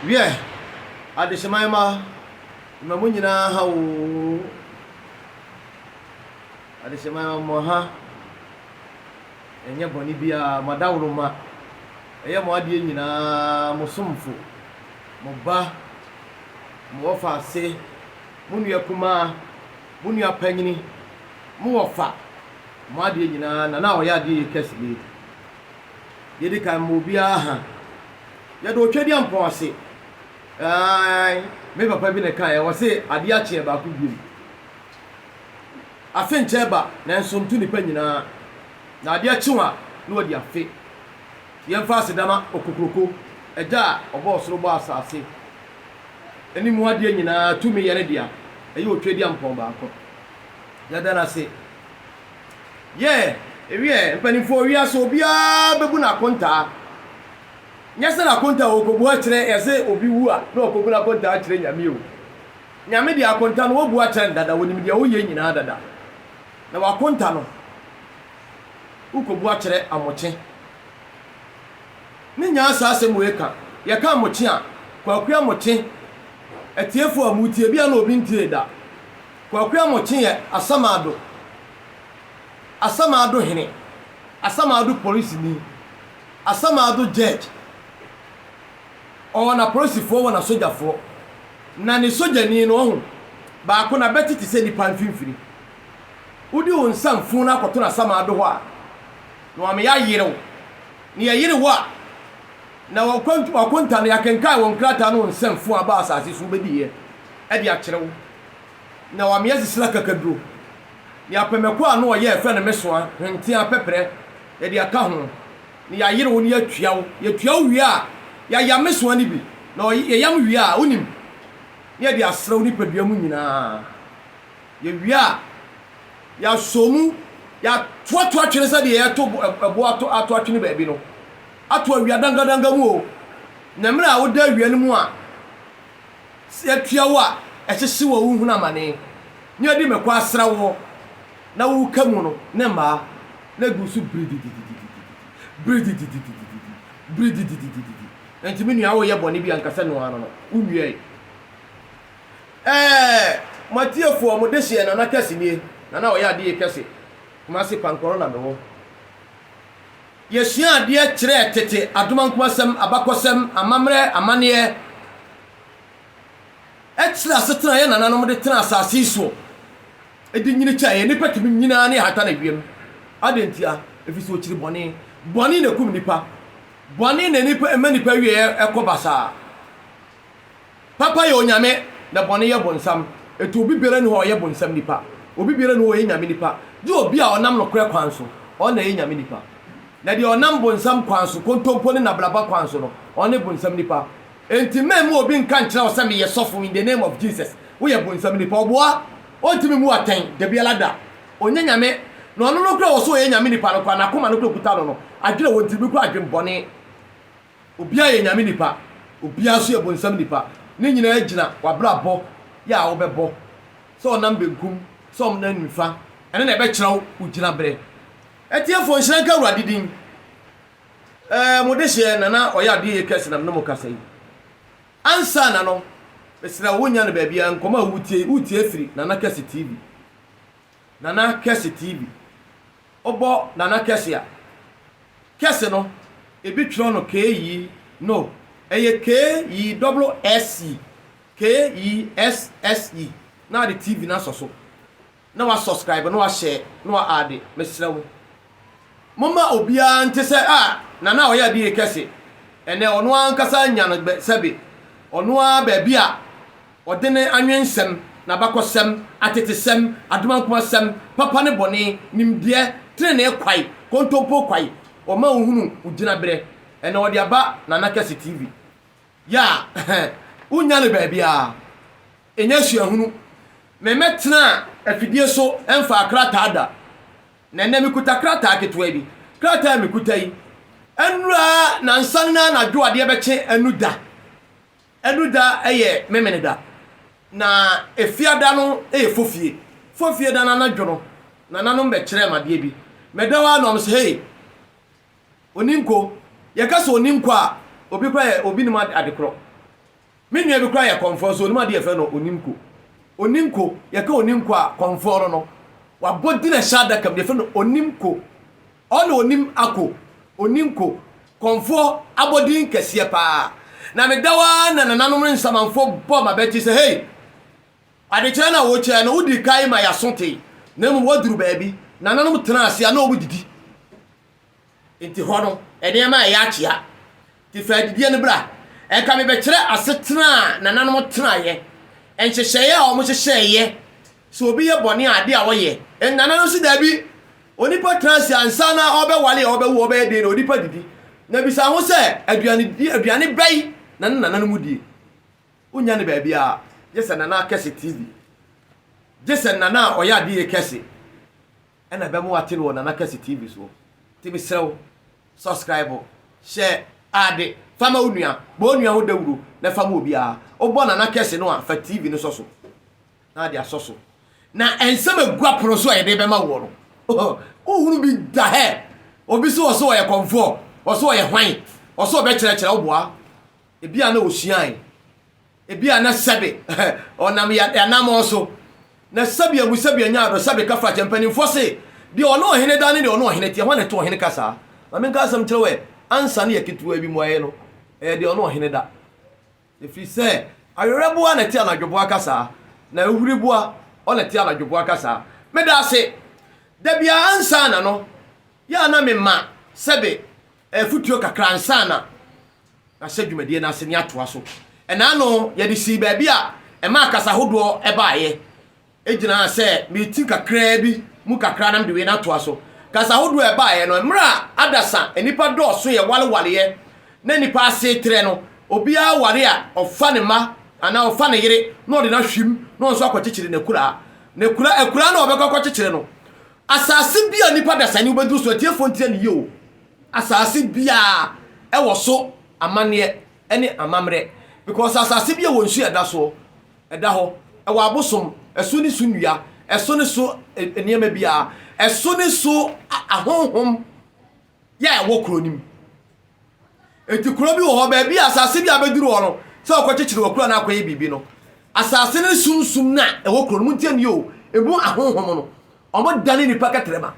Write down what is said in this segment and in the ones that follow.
Wiɛ, adehyeman mma, mma mo nyinaa ha oo. Adehyeman mma mo ha ɛnyɛ bɔne biara, mo adaworoma, ɛyɛ mo adeɛ nyinaa, mo somfo, mo ba, mo wɔfa ase, mo nua kumaa, mo nua panyini, mo wɔfa, mo adeɛ nyinaa, na na ɔyɛ adeɛ yɛ kɛse. Yɛdi kan ma obiara hann. Yɛda Otwadiampɔn ase. Aane, me papa bi na ɛkaeɛ, ɔse, adeɛ akyeɛ baako biom. Afe nkyɛ ba, nanso nto nnipa nyinaa. Na adeɛ kye wɔn a, na wɔadi afe. Yɛmfa aseda ma Okokuroko, Agya a ɔbɔɔ ɔsoro bɔɔ asase ne mu adeɛ nyinaa, tumi yɛ ne dea. Ɛyɛ Otwadiampɔn baako. Yɛda no ase. Yeah, ewiɛ mpaninfoɔ wiase obiara bɛbu no akontaa. Nyɛ sɛ n'akontaa a ɔrekɔbu akyerɛ yɛ sɛ obi wu a na ɔrekɔbu n'akontaa akyerɛ Nyame o. Nyame deɛ akonta no wɔbu akyerɛ no dada, ɔnim deɛ woyɛ nyinaa dada. Na w'akonta no wokɔbu akyerɛ Amokye. Ne nyaa saa asɛm wei ka. Yɛka Amokye a, Kwaku Amokye, atiefoɔ a motie, ebia na obi ntee da. Kwaku Amokyee yɛ Asamaado Asamaado Hene, Asamaado Polisini, Asamaado Judge. Ɔwɔ n'apolisifoɔ wɔ n'asogyafoɔ. Na ne sogyani no, ɔho, baako n'abati te sɛ nipa mfimfini. Wode wo nsa mfuu no akɔto n'asamaado hɔ a, na wama yɛayere wo. Na yɛyere wo a, na w'akonta no, yɛakenkan wo nkrataa no wo nsa mfuu a aba asase so wobɛdiiɛ de akyerɛ wo. Na ɔamea sisire akakaduro, ne apɛmɛkɔ a ano ɔyɛ a yɛfrɛ no mesoa, hwenteaa, pɛprɛ, yɛde aka ho, na yɛayere wo na yɛatua wo. Yɛtua wo wie a, yɛayam mesoa no bi, na yɛyam wie a, wonim, na yɛde asra wo nipadua mu nyinaa. Yɛwie a, yɛasɔ mu, yɛatoatoa twene sɛdeɛ yɛto ɛboɔ atoatoa twene baabi no, ato awia dangadanga mu o, na mmerɛ a woda awia no mu a, Sɛ atua wo a ɛhyehye wɔ wo hunu amane ne adi mɛkɔ asra woɔ na wo ka mu no ne mmaa na gu so bridididididi bridididididi bridididididi enti me nua wo yɛ bɔne bi a nka sɛ noa no no wo nuae ɛɛ mo atiefoɔ mo de hyeɛ nana kɛse nie nana ɔyɛ adeye kɛse Kumasi pankɔrɔ na mewɔ. Yɛsuaa adeɛ kyerɛɛ tete adomankum asɛm, abakɔsɛm, amammerɛ, amanneɛ, ɛkyerɛ asetena a yɛn nananom de tenaa asase yi soɔ de nyini kyɛɛ yɛn. Nnipa tumi nyini ara na yɛhata no awiam. Adɛn ntia? Ɛfiri sɛ wɔkyiri bɔne. Bɔne na ɛkum nnipa. Bɔne na nnipa ɛma nnipa awieɛ kɔ basaa. Papa yɛ Onyame na bɔne yɛ bonsam, ɛto obi biara nni hɔ a ɔyɛ bonsam nipa, obi biara nni hɔ a ɔyɛ Nyame nipa, gye obi a ɔnam nokorɛ kwan so, ɔno na ɛyɛ Nyame nipa. Na deɛ ɔnam bonsam kwan so, kontompo ne nabraba kwan so no, ɔne bonsam nipa. Enti memma obi nka nkyerɛ wo sɛ meyɛ sɔfo in the name of Jesus, woyɛ bonsam nipa. Ɔboa, ɔntumi mmu atɛn, dabiara da. Ɔnyɛ Nyame, na ɔno no koraa a ɔwɔ sɛ ɔyɛ Nyame nipa no koraa, n'akoma no koraa kuta no no, adwene a ɛwɔ ne tirim no koraa adwen bɔne. Obiara yɛ Nyame nipa, obiara nso yɛ bonsam nipa. Ne nyinaa gyina w'abrabɔ yɛ a wobɛbɔ, sɛ ɔnam benkum, sɛ ɔnam nifa, ɛno na ɛbɛkyerɛ wo wo gyinabrɛ. Atiefoɔ, nhyira nka Awurade din. Ɛɛ, mo dehyeɛ Nana ɔyɛ adeɛ yie kɛse nam ne mo kasa yi. Ansa na no, mesrɛ wo, wonnya no baabiara, nkɔmmɔ a wotie yi, woretie afiri Nana Kɛse TV. Nana Kɛse TV. Wobɔ Nana Kɛse a, Kɛse no, ebi twerɛ no K-yi, no, ɛyɛ K-yi, double S-yi, K-yi, S-S-yi, na ade TV no asɔ so, na wa subscribe, na wa share, na wa add, mesrɛ wo. Momma obiara nte sɛ, Ah, Nana a ɔyɛ adeɛ kɛse, ɛnɛ ɔno ara ankasa anya no bɛ, sɛbe ɔno ara baabi a ɔde ne anwensɛm, n'abakɔsɛm, atetesɛm, adomankomasɛm, papa ne bɔne, nimdeɛ, tenenee kwae, kontompo kwae, ɔma wohunu wo gyinaberɛ, ɛnɛ ɔde aba Nana Kɛse TV. Yɛ a, wonnya no baabiara. Ɛnyɛ suahunu. Memmɛtenaa afidie so mfaa krataa da. Na ɛnnɛ mekuta krataa ketewa bi. Krataa a mekuta yi, ɛnnura nnansa no anadwo adeɛ bɛkye Anuda. Anuda yɛ Memeneda. Na Efiada no yɛ Fofie. Fofie da no anadwo no, nananom bɛkyerɛɛ me adeɛ bi. Meda hɔ ara na wɔse, Hey, Oninko, yɛka sɛ Oninko a, obi koraa yɛ, obi nim adekorɔ. Me nua bi koraa yɛ kɔmfoɔ nso ɔnim adeɛ yɛfrɛ no oninko. Oninko, yɛka oninko a, kɔmfoɔ no no. Wabɔ din ahyɛ adaka mu, deɛ yɛfrɛ no onimko. Ɔna ɔnim ako, oninko. Kɔmfoɔ abɔdin kɛseɛ paa. Na meda hɔ ara na nananom ne nsamanfoɔ bɔ m'abati sɛ, Hei! Adekyerɛ no a wokyerɛ no, wodii kan ma yɛaso tee, na mmom woaduru baabi. Nananom tenaa ase a na wɔdidi. Enti hɔ no, nneɛma a ɛyɛ akyea te fɛ adidie no bra. Ɛka me bɛkyerɛ asetena a nananom tenaeɛ, nhyehyɛeɛ a wɔhyehyɛeɛ sɛ obi yɛ bɔne a adeɛ a wɔyɛ. Nananom nso daabi. Onipa tena ase ansa na ɔbɛware a ɔbɛwo ɔbɛyɛ den na onipa didi. Na bisa ho sɛ, aduane die, aduane bɛn na ne nananom die? Wonnya no baabiara, gye sɛ nana kɛse TV. Gye sɛ nana a ɔyɛ adeɛ kɛse. ɛna ɛbɛma wate no wɔ Nana Kɛse TV soɔ. Nti mesrɛ wo subscribe, hyɛ ade, fa ma wo nua, bɔ wo nua ho dawuro na fa ma obiara. Wobɔ Nana Kɛse no a, fa TV no sɔ so na ade asɔ so. Na nsɛm a ɛgu apono so a yɛde bɛma woɔ no, wohunu bi da hɛ. Obi se ɔse ɔyɛ kɔmfoɔ, ɔse ɔyɛ hwan, ɔse ɔbɛkyerɛkyerɛ wo boa. Ebia na ɔsuae Ebia na sɛbe ɔnam yɛ anamɔn so, na sɛbea mu sɛbea nyaa do, sɛbe ka fa kyɛ. Mpanyimfoɔ se, Deɛ ɔne ɔhene da ne deɛ ɔne ɔhene teɛ, hwan na ɛto ɔhene ka saa? Ma menka asɛm nkyerɛ wo ɛ, ansa ne yɛ ketewaa bi mmuaeɛ no, ɛyɛ deɛ ɔne ɔhene da. Ɛfiri sɛ awerɛboa na ɛte anadwoboa ka saa, na ahuriboa ɔ na ɛte anadwoboa ka saa. Meda ase. Da biara ansa na no yɛ a na mema sɛbe Afotuo kakra ansa na Yɛahyɛ dwumadie no ase na yɛatoa so. Ɛna ano yɛde sii baabi a ɛmaa kasa ahodoɔ baeɛ. Ɛgyinaa sɛ mereti kakraa bi mu kakra na mede wei no atoa so. Kasa ahodoɔ a ɛbaeɛ no, mmerɛ a adasa nnipa dɔɔso yɛ warewareɛ na nnipa asetrɛ no, obiara ware a ɔfa ne mma anaa ɔfa ne yere na ɔde no ahwim na ɔno nso akɔkyekyere n'akuraa. N'akuraa, akuraa no a ɔbɛkɔ akɔkyekyere no, Asase bi a nnipa dasani wobɛduru so, atiefoɔ ntie no yie o, asase biara ɛwɔ so amanneɛ ɛne amammerɛ because asase bi a ɛwɔ nsuo a ɛda soɔ, ɛda hɔ, ɛwɔ abosom, ɛso ne so nnua, ɛso ne so nneɛma biara, ɛso ne so ahonhom. yɛ a ɛwɔ kuro no mu. Enti kuro bi wɔ hɔ, baabi a asase bi a bɛduru hɔ no, sɛ wɔkɔkyekyere wɔ kuro anaa akɔyɛ biribi no, asase no sunsum no a ɛwɔ kuro no mu ntiɛ nio, ɛmu ahonhom no, wɔn dane nipa kɛtrɛma.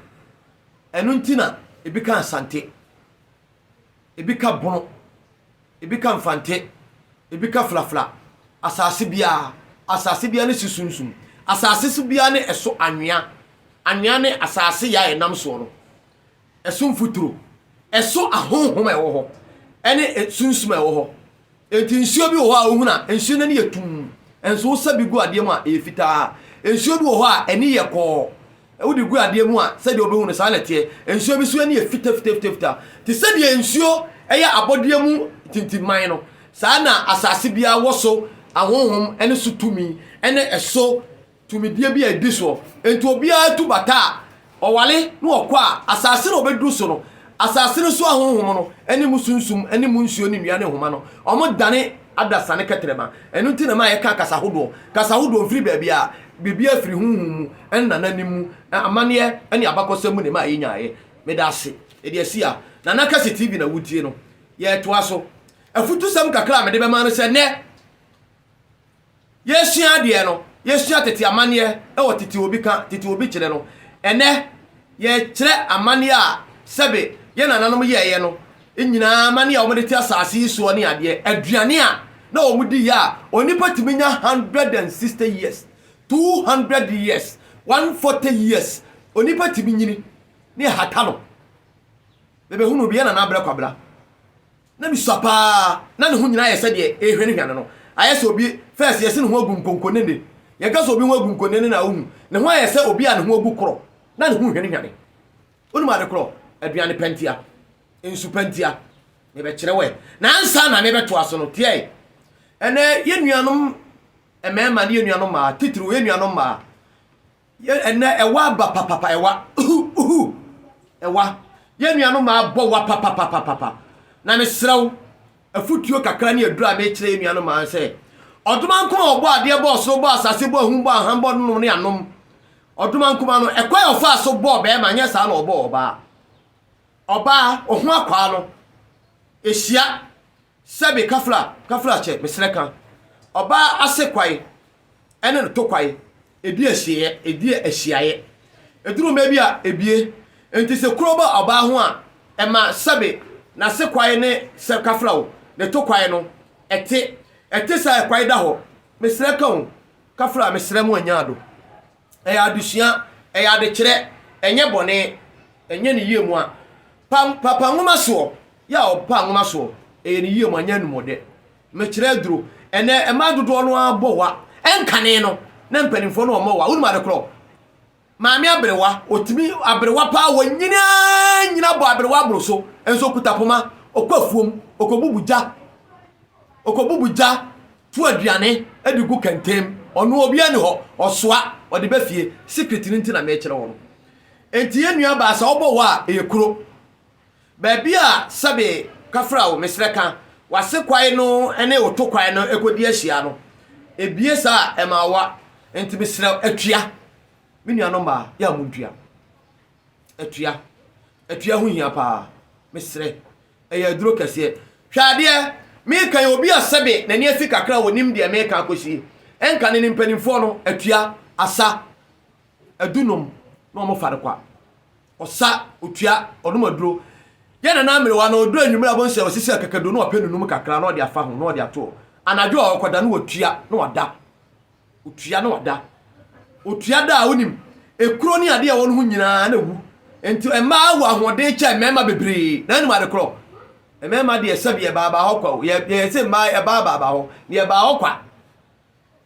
Ɛno nti na ebi ka asante, ebi ka bono, ebi ka mfante, ebi ka flafla. Asase biara, asase biara ne si sunsum. Asase so biara ne ɛso anwea. Anwea ne asase yɛ a ɛnam soɔ no. Ɛso mfuturo, ɛso ahonhom a ɛwɔ hɔ, ɛne sunsum a ɛwɔ hɔ. Enti nsuo bi wɔ hɔ a wohunu a nsuo no ani yɛ tumm, nso wosa bi gu adeɛ mu a ɛyɛ fitaa. Nsuo bi wɔ hɔ a ani yɛ kɔɔ, wode gu adeɛ mu a sɛdeɛ wobɛhu no saa na ɛteɛ. Nsuo bi nso ani yɛ fitafitafita. Te sɛ deɛ nsuo yɛ abɔdeɛ mu tintimman no, saa na asase biara wɔ so ahonhom ne so tumi ne ɛso tumidie bi a ɛdi soɔ, enti obiara tu bata a, ɔware na ɔkɔ a, asase na ɔbɛduru so no, asase no so ahonhom no ne mu sunsum ne mu nsuo ne nnua ne nhoma no, wɔdane adasa ne kɛtrɛma. Ɛno nti na ɛma yɛka kasa hodoɔ, kasa hodoɔ firi baabiara, biribiara firi honhom mu, nananom mu, amanneɛ ne abakɔsɛm mu na ɛma yɛnyaeɛ. Meda ase. Yɛde asi ha. Nana Kɛse TV na wotie no. Yɛretoa so. Afutusɛm kakra a mede bɛma no sɛ, nnɛ, Yɛresua adeɛ no, yɛsua tete amanneɛ wɔ tete obi ka, tete obi kyerɛ no. Ɛnnɛ, yɛrekyerɛ amanneɛ a sɛbe yɛn nananom yɛeɛ no nyinaa, amanneɛ a wɔde te asase yi soɔ ne adeɛ, aduane a na wɔdi yɛ a onipa tumi nya 160 years, 200 years, 140 years, onipa tumi nyini, ne ɛhata no. Bɛbɛhunuu bi, yɛn nana abrɛ kwabra. na misua pa ara, na ne ho nyinaa yɛ sɛ deɛ ɛrehwanihwa no no. Ayɛ sɛ obi, first, yɛse ne ho agu nkonkonene. Yɛka sɛ obi ho agu nkonene no a, wohu? Ne ho ayɛ sɛ obi a ne ho agu korɔ, na ne ho rehwanihwane. Wonim ade korɔ? Aduane pa ntia, nsu pa ntia. Mebɛkyerɛ wo ɛ. Na ansa na mebɛtoa so no, tiae. Ɛnɛ, yɛn nuanom mmarima ne yɛn nuanom mmaa, titiriw yɛn nuanom mmaa, Yɛ ɛnɛ ɛwa aba papapa ɛwa uhu uhu ɛwa yɛ nua no maa bɔ wa papapapapa na me serɛ wo afutuo kakra ne aduro a mekyerɛ yɛ nua no maa sɛ ɔdoma nkoma ɔbɔ adeɛ bɔ ɔsoro bɔ asase bɔ ahum bɔ aham bɔ nom ne anom ɔdoma nkoma no ɛkwan a ɔfaa so bɔɔ bɛrima nyɛ saa na ɔbɔɔ ɔbaa ɔbaa ɔho akwaa no ɛhyia sɛbe kafra kafra kyɛ meserɛ ka ɔbaa ase kwae ɛne no to kwae, ɛdi ahyiaeɛ, ɛdi ahyiaeɛ. Ɛduru mmerɛ bi a, ɛbue. Enti sɛ kuro ba ɔbaa ho a, ɛma sɛbe n'ase kwae ne sɛ kafrao, ne to kwae no, ɛte. Ɛte saa a, kwae da hɔ. Mesrɛ ka o, kafra, mesrɛ mo anya ado. Ɛyɛ adesua, ɛyɛ adekyerɛ, ɛnyɛ bɔne, ɛnyɛ ne yie mu a. Pa, papa nwoma soɔ, yɛ a ɔpa nwoma soɔ, ɛyɛ ne yie mu, anyɛ anumɔdɛ. Mekyerɛ aduro. Ɛnɛ mmaa dodoɔ no ara bɔ wa. Ɛnkane no, na mpanimfoɔ no wɔmmɔ wa. Wonim ade korɔ? Maame aberewa, ɔtumi aberewa paa, wɔnyini ara nyina bɔ aberewa aboro so, nso ɔkuta poma, ɔkɔ afuom, ɔkɔbubu gya, ɔkɔbubu gya, tu aduane de gu kɛntɛm, ɔno obiara nni hɔ, ɔsoa, ɔde ba fie. Secret no nti na mekyerɛ wo no. Enti yɛn nuabaa, sɛ ɔbɔ wa a, ɛyɛ kuro. Baabi a sɛbe kafra wo mesrɛ ka w'ase kwae no ne wo to kwae no kɔdi ahyia no ɛbie saa a ɛma awa nti mesrɛ atua me nuanom maa yɛ a mo ntua atua atua ho hia paa mesrɛ ɛyɛ aduro kɛseɛ hwɛ adeɛ meka yɛ obi a sɛbe n'ani afi kakra wɔ nim deɛ meka akɔsi ɛnka ne ne mpanimfoɔ no atua asa adunom na wɔn fa no kwa ɔsa, otua, ɔnom aduro. Yɛ Nana Amerewa no, ɔduru anwumerɛ a wobɛhu sɛ wasisi akakaduro na wapɛ ne num kakra na ɔde afa ho na ɔde ato hɔ. Anadwo a ɔkɔda no watua na wada. Otua na wada. Otua da a wonim ekuro ne adeɛ a ɛwɔ no ho nyinaa na awu. Nti mmaa wɔ ahoɔden kyɛn mmarima bebree na anim ade korɔ. Mmarima deɛ sɛbi ɛbaa baa hɔ kwa o. Yɛ yɛ sɛ mmaa ɛbaa baa baa hɔ. Deɛ ɛbaa hɔ kwa.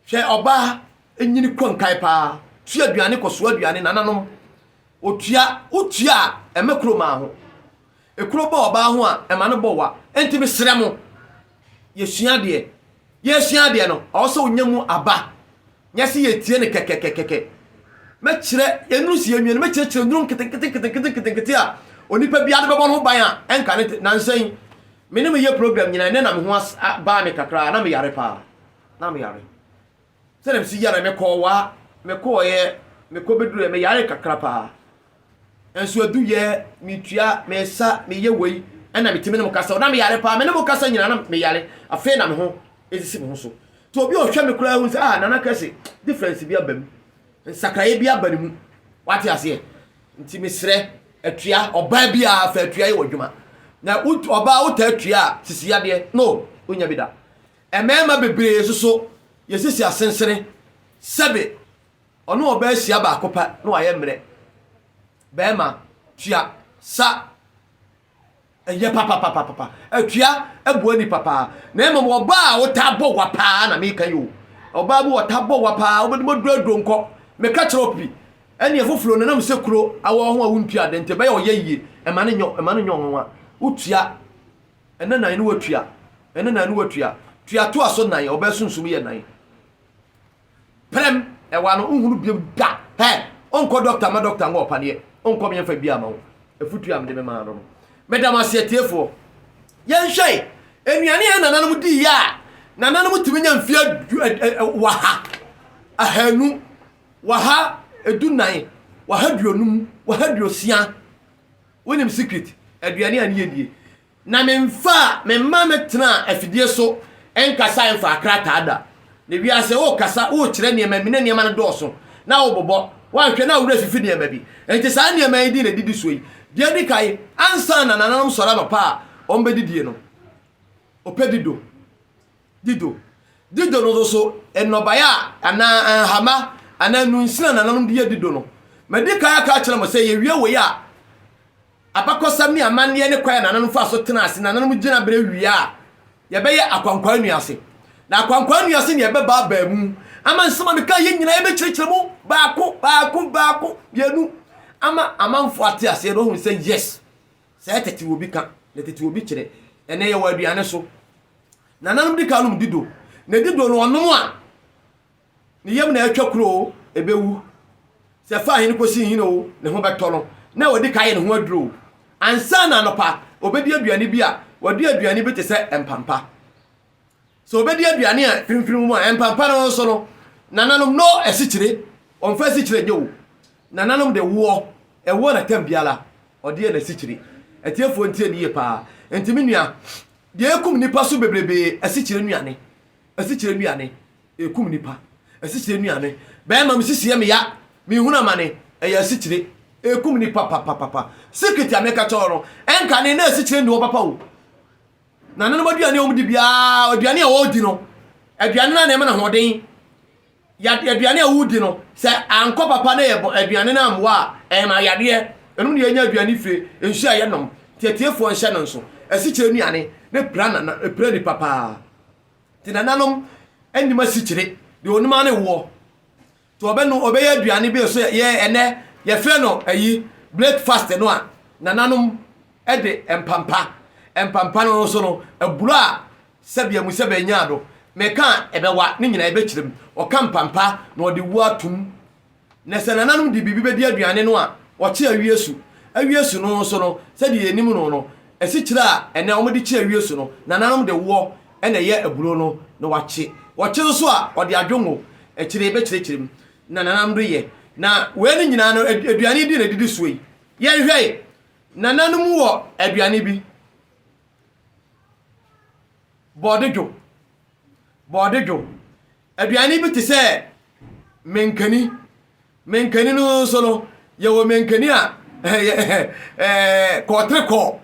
Hwɛ ɔbaa nyini kɔ nkae paa tua aduane kɔ soa aduane nananom otua wotua a ɛmɛ kuro maa ho ekuro bɔ ɔbaa ho a ɛma no bɔ wa enti mesrɛ mo yɛsua deɛ yɛsua deɛ no ɔwɔ sɛ wonya mu aba nyɛ sɛ yɛtie no kɛkɛkɛkɛkɛ mɛkyerɛ yɛnuru si yɛnwie no mɛkyerɛkyerɛ nnuro nketenketenketenketenkete a onipa biara de bɛbɔ no ho ban a ɛnka ne nansa yi me ne meyɛ program nyinaa ɛnɛ na me ho baa me kakra na meyare paa na me yare sɛdeɛ mesi yare me kɔɔ waa me kɔɔyɛ me kɔ bɛdurɛ me yare kakra paa nso aduyɛ metua mesa meyɛ wei ɛna metumi ne mo kasa na me yare paa me ne mo kasa nyina na me yare afei na me ho ɛsisi me ho so nti obi ɔhwɛ me koraa hu sɛ ah nana kɛse difference bi aba mu nsakraeɛ bi aba ne mu wate aseɛ nti mesrɛ atua ɔbaa bi a fa atua yɛ wɔ adwuma na ɔbaa wotaa atua a sisi yadeɛ no wonya bi da Mmarima bebree nso so yɛ sisi asensene, sɛbe ɔne ɔbaa hyia baako pɛ na wayɛ mmerɛ. Barima, tua, sa, ɛyɛ papapapapa, atua, ɛboa nipa paa, na mmom ɔbaa a wotaa bɔ wa paa na meka yi o, ɔbaa bi wɔtaa bɔ wa paa, wobɛde mɔduro aduro nkɔ, meka kyerɛ wo pi, ɛne ɛfoforo no nam sɛ kuro awɔ ho a wontua ade nti ɛbɛyɛ ɔyɛ yie, ɛma no nyɛ ɔnwanwa, wotua, Ɛnɛ nan ne watua, ɛnɛ nan ne watua. Tua toa so nan, ɔbaa sunsum yɛ nan. Prɛm, ɛwa no nhunu biom da. Hɛ, ɔnkɔ dɔkta ma dɔkta ngo ɔpaneɛ, ɔnkɔ me ɛmfa biaa ma wo. Afutuo a mede memaa no no. Meda mo ase atiefoɔ. Yɛnhwɛ nnuane a yɛn nananom diiɛ a nananom tumi nya mfeɛ waha, ahanu, waha edunan, waha duonum, waha duosia. Wonim secret aduane a ne yɛ die. Na me mfa me mma me tena afidie so nkasa mfa krataa da. Na wiase wo kasa wo kyerɛ nneɛma mi na nneɛma no dɔɔso na wo bobɔ wanhwɛ na wo werɛ fifi nneɛma bi. Nti saa nneɛma yi din na didi soɔ yi. Deɛ edi kan ansa na nananom sɔre anɔpa a wɔn bɛ didie no. Ɔpɛ dido. Dido, Dido no nso so nnɔbae a anaa nhama anaa nnunsin a nananom de yɛ dido no. Madi kan aka akyerɛ mo sɛ yɛwie wei a, abakɔsɛm ne amanneɛ ne kwan a nananom faa so tenaa ase, nananom gyinaberɛ wie a, yɛbɛyɛ Akwankwaa Nua ase. Na Akwankwaa Nua ase na yɛbɛba abaa mu ama nsɛm a mekaa yi nyinaa yɛbɛkyerɛkyerɛ mu baako baako baako mmienu ama amanfoɔ ate aseɛ na wɔahunu sɛ yes, sɛ tete obi ka na tete obi kyerɛ, ɛnnɛ yɛwɔ aduane so. Nananom di kan nom dido, na dido no ɔnom a, ne yam na atwa kuro o, ɛbɛwu. Sɛ ɛfa ahene kɔsi nhini o, ne ho bɛtɔ no, na wadi kan ayɛ ne ho aduro o. Ansa na anɔpa, ɔbɛdi aduane bi a, wadi aduane bi te sɛ mpampa. Sɛ ɔbɛdi aduane a firimfirim mu a, mpampa no nso no, nananom no asikyire, ɔmfa asikyire nyɛ o. Nananom de woɔ, ɛwoɔ na tam biara ɔde yɛ n'asikyire. Atiefoɔ ntie no yie paa. Nti me nua, Deɛ ɛkum nnipa so bebrebe ye asikyire nnuane, asikyire nnuane, ɛkum nnipa, asikyire nnuane, bɛɛma me sisi yɛ me ya, me hunu amane, ɛyɛ asikyire, ɛkum nnipa papapapa, secret a me ka kyɛw no, ɛnkane na asikyire nni hɔ papa o, nanenom aduane a wɔn di biara, aduane a wɔn di no, aduane no na ɛma no ahoɔden. Yadeɛ aduane a wodi no sɛ ankɔ papa na yɛbɔ aduane no ammoa a ɛma yadeɛ. Ɛnom na yɛnya aduane fire, nsuo a yɛnom, teateafoɔ nhyɛ no nso, asikyire nnuane ne pira nana, pira nipa paa. Nti nananom nnim asikyire, deɛ onim ara ne woɔ. Nti ɔbɛno ɔbɛyɛ aduane bi nso yɛ ɛnɛ yɛfrɛ no ayi breakfast no a nananom de mpampa mpampa no nso no aburo a Sɛbea mu sɛbea nyaa do, mekã a ebɛwa ne nyina ebɛkyerɛ mu, ɔkã mpampa na ɔde wu ato mu. Na sɛ nananom de biribi bɛdi aduane no a, wɔkye awie su. Awie su no nso no, sɛdeɛ yɛnim no no, asikyire a ɛnnɛ wɔde kye awie su no, nananom de woɔ na ɛyɛ aburo no na wɔakye. Wɔkye nso a, wɔde adwongo, akyire yɛbɛkyerɛkyerɛ mu, na nananom de yɛ. Na wei no nyinaa no, aduane yi din na ɛdidi soɔ yi. Yɛnhwɛ, nananom wɔ aduane bi. Borɔde dwo, borɔde dwo. Aduane bi te sɛ mankani. Mankani no nso no, yɛwɔ mankani a kɔɔtere kɔɔ,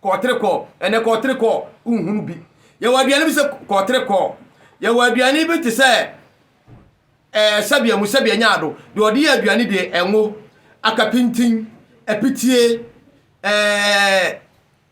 kɔɔtere kɔɔ. Ɛnɛ kɔɔtere kɔɔ nhunu bi. Yɛwɔ aduane bi sɛ kɔɔtere kɔɔ. Yɛwɔ aduane bi te sɛ ɛɛ sɛbea mu sɛbea nyaado. Deɛ ɔde yɛ aduane deɛ ɛnwo, akapintin, apitie, ɛɛ.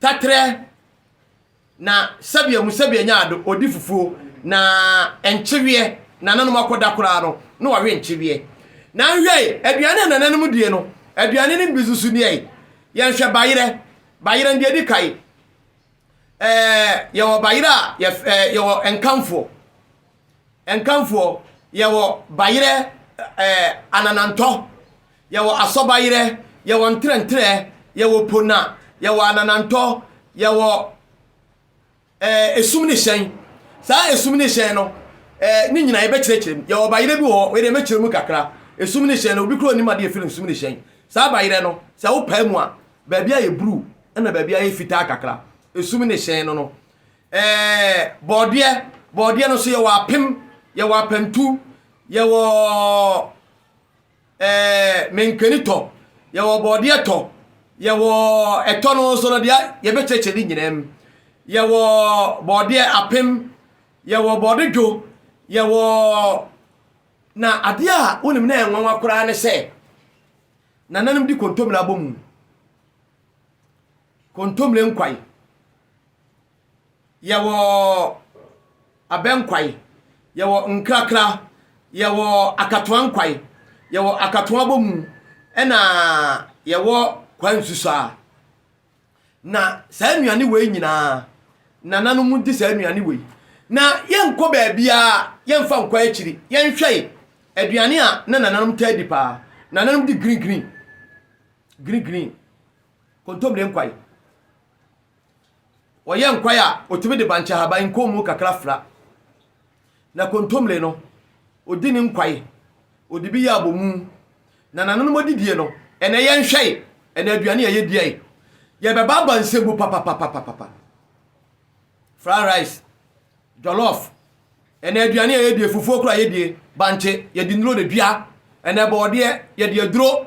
Taterɛ na sɛbea mu sɛbea nya ado odi fufuo na nkyeweɛ nananom akɔda koraa no na wɔawe nkyeweɛ na nhwɛe aduane a nananom die no aduane no bi nso nie yɛnhwɛ bayerɛ bayerɛ deɛ di kae ɛɛ yɛwɔ bayerɛ a yɛf ɛɛ yɛwɔ nkamfoɔ Nkamfoɔ, yɛwɔ Bayerɛ ɛɛ Ananantɔ, yɛwɔ Asɔbayerɛ, yɛwɔ Ntrɛntrɛ, yɛwɔ Pona, yɛwɔ Ananantɔ, yɛwɔ ɛɛ Esum ne Hyɛn. Saa Esum ne Hyɛn no, ɛɛ ne nyinaa yɛbɛkyerɛkyerɛ mu. Yɛwɔ Bayerɛ bi wɔ hɔ, wei deɛ mɛkyerɛ mu kakra. Esum ne Hyɛn no, obi koraa ɔnnim adeɛ yɛfrɛ no Esum ne Hyɛn. Saa Bayerɛ no, sɛ wopae mu a, baabi ayɛ bruu, ɛna baabi ayɛ fitaa kakra. Esum ne Hyɛn no no, Ɛɛ bɔɔdeɛ, bɔɔdeɛ no nso yɛwɔ apem, yɛwɔ apantu, yɛwɔ ɛɛ menkani tɔ, yɛwɔ bɔɔdeɛ tɔ, yɛwɔ ɛtɔ no nso no deɛ yɛbɛkyerɛkyerɛ ne nyinaa mu. Yɛwɔ bɔɔdeɛ apem, yɛwɔ bɔɔde dwo, yɛwɔ na adeɛ a wonim na ɛnwanwa koraa ne sɛ nananom di kontomire abɔ mu. Kontomire Nkwae, yɛwɔ Abɛ Nkwae, yɛwɔ Nkrakra, yɛwɔ Akatoa Nkwae, yɛwɔ Akatoa Abomu, ɛna yɛwɔ Kwaa Nsusuaa. Na saa nnuane wei nyinaa, nananom di saa nnuane wei. Na yɛnkɔ baabiara, yɛmfa nkɔ akyiri, yɛnhwɛe aduane a na nananom taa di paa. Nananom di green green, green green. Kontommire nkwae. Wɔyɛ nkwae a wɔtumi de bankye ahaban nkɔnmu kakra fra. Na kontommire no, wɔdi ne nkwae, wɔde bi yɛ abomu. Na nananom adidie no, ɛnɛ yɛnhwɛe, ɛnɛ aduane a yɛdiae, yɛbɛbaaba nsebu papapapapapa. Fried rice, jollof, ɛnɛ aduane a yɛdie, fufuo koraa yɛdie, bankye, yɛde nnuro na dua, ɛnɛ bɔɔdeɛ, yɛde aduro.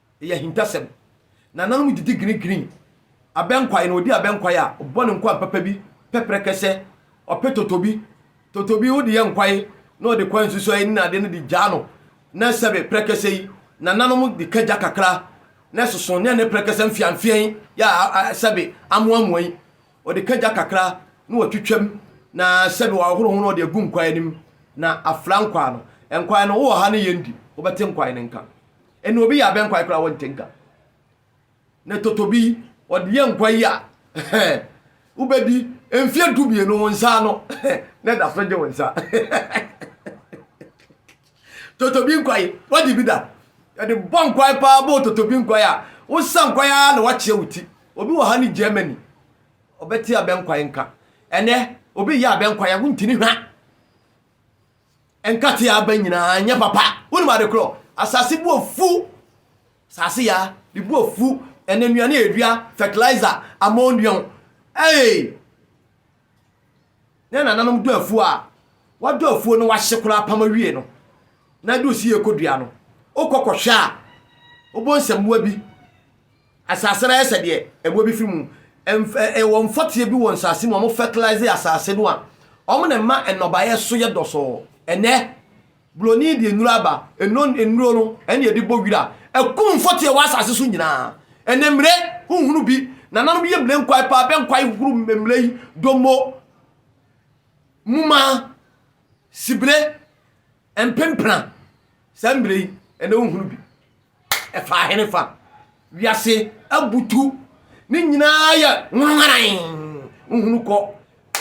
Ɛyɛ ahintasɛm. Nananom didi grinigrini. Abɛnkwae no, ɔdi abɛnkwae a, ɔbɔ ne nkwa mpapa bi, pɛ prɛkɛsɛ. Ɔpɛ totobi. Totobi wode yɛ nkwae na ɔde kwae nsusuae ne ade no de gyaa no. Na sɛbe prɛkɛsɛ yi, nananom de ka gya kakra na ɛsoso ne ɛne prɛkɛsɛ mfeamfeaa yi yɛ a sɛbe amoamoa yi. Ɔde ka gya kakra na watwitwam na sɛbe wahoro ho na ɔde agu nkwae no mu na afra nkwae no. Nkwae no, wowɔ ha ne yɛn di, wobɛte nkwae no nka. Eno obi yɛ abɛn kwae koraa wɔnte nka. Ne totobi ɔde yɛ nkwa yi a wobɛdi mfeɛ du mmienu wo nsa ano na ɛda so gye wo nsa. totobi nkwae wagye bi da yɛde bɔ nkwae paa bɔ totobi nkwae a wosa nkwae a na wakyea wo ti obi wɔ ha ne Germany ɔbɛte abɛn kwae nka ɛnɛ obi yɛ abɛn kwae a wontini hwa Nkate aba nyinaa nyɛ papa. Wonim ade korɔ? Asase bu afu. Asase ya de bu afu. Ɛnɛ nnuane a yɛdua, fertilizer, ammonium. Hey! Na nananom dɔ afuo a, wadɔ afuo no wahye koraa apam awie no. Na ɛde osi yɛ kɔdua no. Wokɔ kɔhwɛ a, wobɔ nsɛmmoa bi. Asase no ayɛ sɛ deɛ ɛboɔ bi firi mu. Mf ɛwɔ mfɔteɛ bi wɔ nsase mu a wɔn fertilize asase no a wɔn na ɛma nnɔbaeɛ so yɛ dɔsɔɔ. Ɛnnɛ, buroni deɛ nnuro aba, ɛno nnuro no ɛna yɛde bɔ wira, ɛkum mfɔteɛ wɔ asase so nyinaa. Ɛnnɛ mmire, wonhunu bi, nananom yɛ mmire nkwae paa, bɛ nkwae hohoro mmire yi, dommo, muma, sibire, mpempena, saa mmire yi, ɛnnɛ wonhunu bi. ɛfaa henefa? Wiase abutu. Ne nyinaa yɛ nwanwaran. Wohunu kɔ,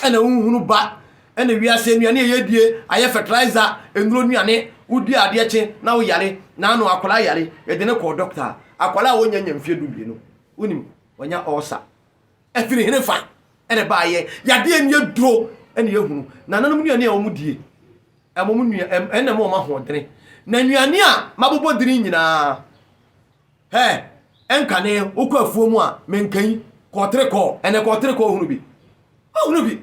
ɛna wohunu ba. Ɛna wiase nnuane a yɛdie ayɛ fertilizer, nnuro nnuane. Wodi adeɛ kye na woyare. Naano akwadaa yare, yɛde no kɔɔ dɔkta. Akwadaa a wɔnya nya mfeɛ du mmienu, wonim, wanya ulcer. Ɛfiri herefa na ɛbaeɛ? Yadeɛ no yɛ duro na ɛyɛ hunu. Nananom nnuane a wɔdie ɛma wɔn nua ɛna ɛma wɔn ahoɔdene. Na nnuane a mabobɔ dini nyinaa hɛ ɛnkane. Wokɔ afuo mu a menka yi kɔɔterekɔɔ ɛnɛ kɔɔterekɔɔ hunu bi. Wohunu bi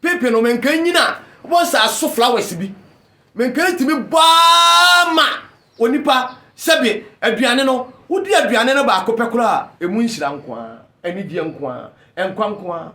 Pipi no menka nyina wobɔ nsaa so flowers bi menka ntumi bɔ ara ma onipa sɛbi aduane no wodi aduane no baako pɛ koraa a emu nhyira nko ara anigyeɛ nko ara nkwa nko ara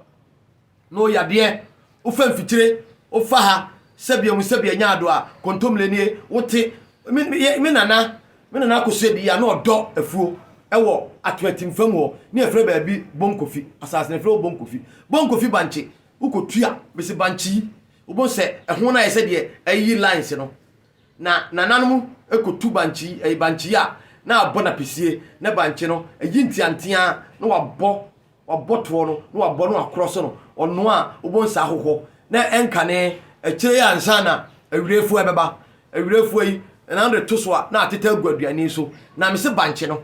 na ɔyɛ adeɛ wofa mfikyire wofa ha sɛbi emu sɛbi anya ado a kontomire nie wote me nana me nana akosua di ya na ɔdɔ afuo ɛwɔ atoatimfa mu hɔ ne ɛfrɛ baabi bonkofi asase ne ɛfrɛ wɔ bonkofi bonkofi bankye Wokotu a, mese bankyi, wobɛhu sɛ ɛho no ayɛ sɛ deɛ ayiyi lines no. Na nananom kotu bankyi, ɛyɛ bankyi a, na abɔ no apesie, na bankye no, ayi nteanteaa na wabɔ, wabɔ toɔ no, na wabɔ no akorɔ so no, ɔno a, wobɛhu sɛ ahohɔ, na ɛnkane, akyire yi ansa na awirefoɔ ɛbɛba, awirefoɔ yi, na wode to so a, na atete agu aduane so, na mese bankye no.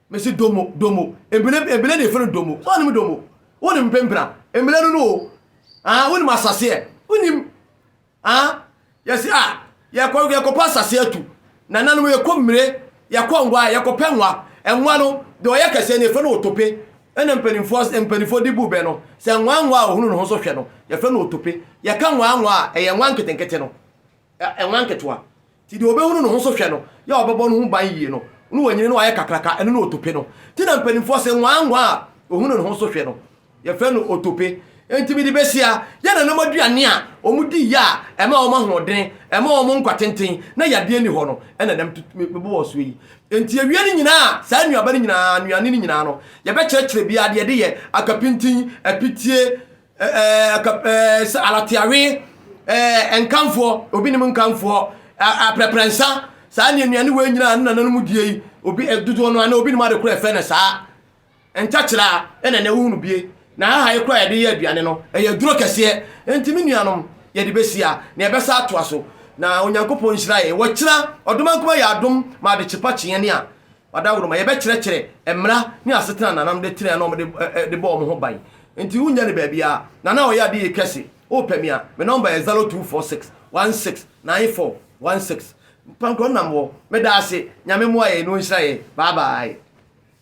Mese domo, domo, ebile, ebile na yɛfrɛ no domo, sɛ wonim domo, wonim mpempena, mmena no no o, ah, wonim asaseɛ, wonim, ah, yɛse ah, yɛkɔ, yɛkɔpɛ asaseɛ atu, nananom yɛkɔ mmire, yɛkɔ nwa, yɛkɔpɛ nwa, nwa no, deɛ ɔyɛ kɛseɛ no yɛfrɛ no otope, ɛna mpanimfoɔ, mpanimfoɔ de bu bɛ no, sɛ nwa nwa a ɔhunu ne ho so hwɛ no, yɛfrɛ no otope, yɛka nwa nwa a, ɛyɛ nwa nketenkete no. Ɛnwa nketewa. Nti deɛ ɔbɛhunu ne ho so hwɛ no, yɛ a ɔbɛbɔ ne ho ban yie no, na wanyini na wayɛ kakraka, ɛno ne otope no. Nti na mpanimfoɔ se, Nwaa nwaa a ɔhunu ne ho so hwɛ no, yɛfrɛ no otope. Nti mede bɛsia, yɛ nananom aduane a wɔdi yɛ a ɛma wɔn ahoɔdene, ɛma wɔn nkwa tenten, na yadeɛ nni hɔ no, ɛna nam tu, mebɔ wɔn soɔ yi. Nti awie no nyinaa, saa nnuaba no nyinaa, nnuane no nyinaa no, yɛbɛkyerɛkyerɛ biara deɛ ɛde yɛ, akapintin, apitie, alateawe nkamfoɔ obi nim nkamfoɔ aprɛprɛnsa saa ne nnuane wei nyinaa ne nananom die yi obi dodoɔ no ana obi nim ade korɔ ɛfɛ no saa ntakyerɛ a ɛna ɛnɛ wohunu bie na aha yi korɔ yɛde yɛ aduane no ɛyɛ duro kɛseɛ nti me nuanom yɛde bɛsia na yɛbɛsa atoa so na onyankopɔn nhyira yɛ wɔkyerɛ ɔdoma nkoma yɛ adom ma ade kyepa kyeɛ ne a Ɔdawuroma, Yɛbɛkyerɛkyerɛ mmara ne asetena a nananom de tenae na wɔde de bɔɔ wɔn ho ban. Enti wunnya no baabiara. Nana a ɔyɛ ade yɛ kɛse, wopɛ me a, me nɔmba yɛ 0246 16 94 16. Pankɔ nam hɔ. Meda ase. Nyame mmoa yɛn na ɔnhyira yɛn. Bye bye.